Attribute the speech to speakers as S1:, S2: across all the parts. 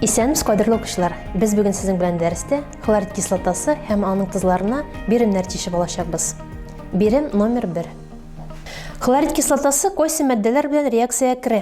S1: Исәнбез, кадерле укучылар! Без бүген сезнең белән дәрестә хлорид кислотасы һәм аның тозларына биремнәр тишеп алачакбыз. Бирем номер 1. Хлорид кислотасы койсы матдәләр белән реакциягә керә.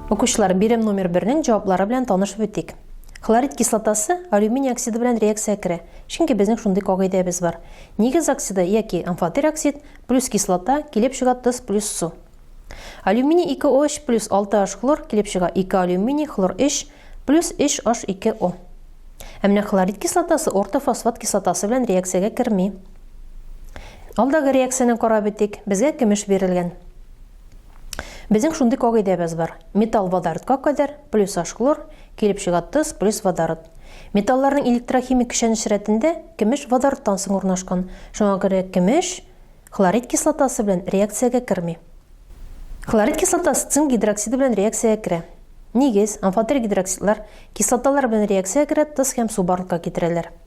S1: Укучылар, бирем номер бернең җаваплары белән танышып үтик. Хлорид кислотасы алюминий оксиды белән реакциягә керә, чөнки безнең шундый кагыйдәбез бар. Нигез оксиды яки амфотер оксид плюс кислота килеп чыга тоз плюс су. Алюминий 2 о 3 плюс 6 h хлор килеп чыга 2 алюминий хлор 3 плюс 3 h 2 o Ә менә хлорид кислотасы ортофосфат кислотасы белән реакциягә керми. Алдагы реакцияне карап үтик. Безгә көмеш бирелгән. Безнең шундый кагыйдәбез бар. Металл водородка кадәр плюс ашклор, килеп чыга тоз плюс водород. Металларның электрохимик көчәнеш рәтендә кемеш водородтан соң урнашкан. Шуңа күрә кемеш хлорид кислотасы белән реакциягә керми. Хлорид кислотасы цинк гидроксиды белән реакциягә керә. Нигез, амфотерик гидроксидлар, кислоталар белән реакциягә керә, тоз һәм су барлыкка китерәләр.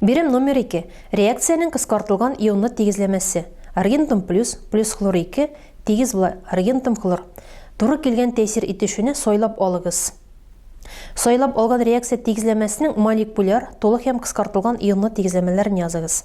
S1: Бирем номер 2. Реакциянең кыскартылган ионлы тигезләмәсе. Аргентум плюс, плюс хлор 2, тигез була, аргентум хлор. Туры килгән тәэсир итүчене сайлап алыгыз. Сайлап алган реакция тигезләмәсенең молекуляр, тулы һәм кыскартылган ионлы тигезләмәләрен языгыз.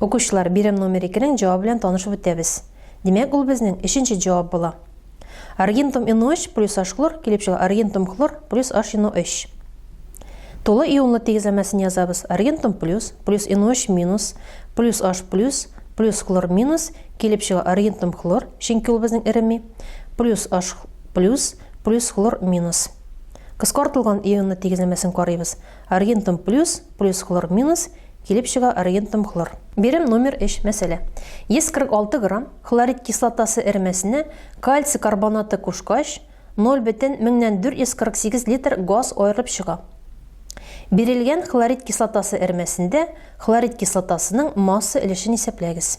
S1: Укучылар, бирем номер икенең җавабы белән танышып үтәбез. Димәк, ул безнең өченче җавап була. Аргентум НО3 плюс H-хлор килеп чыга аргентум хлор плюс HNO3. Тулы ионлы тигезләмәсен язабыз. Аргентум плюс, плюс НО3 минус, плюс H плюс, плюс хлор минус, килеп чыга аргентум хлор, чөнки ул безнең эреми, плюс H плюс, плюс хлор минус. Кыскартылган ионлы тигезләмәсен карыйбыз. Аргентум плюс плюс хлор минус килеп чыга аргентум хлор. Бирем номер 3, мәсьәлә. 146 грамм хлорид кислотасы эремәсенә кальций карбонаты кушкач, 0 бөтен меңнән 448 литр газ аерылып чыга. Бирелгән хлорид кислотасы эремәсендә хлорид кислотасының масса өлешен исәпләгез.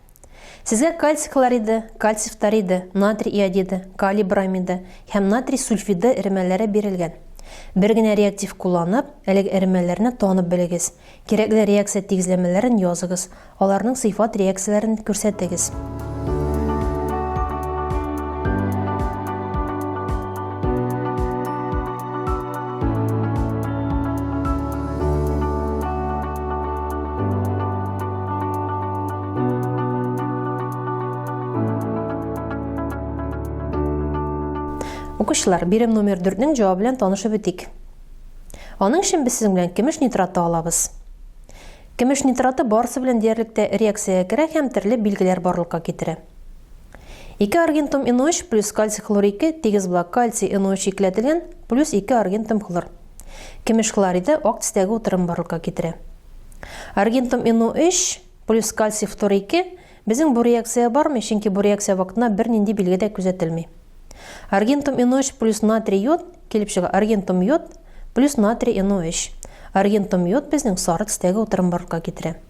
S1: Сезгә кальций хлориды, кальций фториды, натрий иодиды, калий бромиды һәм натрий сульфиды эремәләре бирелгән. Бер генә реактив кулланып, әлеге эремәләрне танып белегез. Кирәкле реакция тигезләмәләрен языгыз, аларның сыйфат реакцияләрен күрсәтегез. Укучылар, бирем номер 4-нең җавабы белән танышып үтик. Аның өчен без сезнең белән көмеш нитраты алабыз. Көмеш нитраты барысы белән диярлек тә реакциягә керә һәм төрле билгеләр барлыкка китерә. 2 аргентум NO3 плюс кальций хлор 2 тигез була кальций NO3 икеләтелгән плюс 2 аргентум хлор. Кемеш хлориды ак төстәге утырым барлыкка китерә. Аргентум NO3 плюс кальций фтор 2 безнең бу реакция бармый, чөнки бу реакция вакытында бернинди билге дә күзәтелми. Аргентум NO3 плюс натрий йод килеп чыга. Аргентум йод плюс натрий NO3. Аргентум йод безнең сары төстәге утырым барлыкка китерә.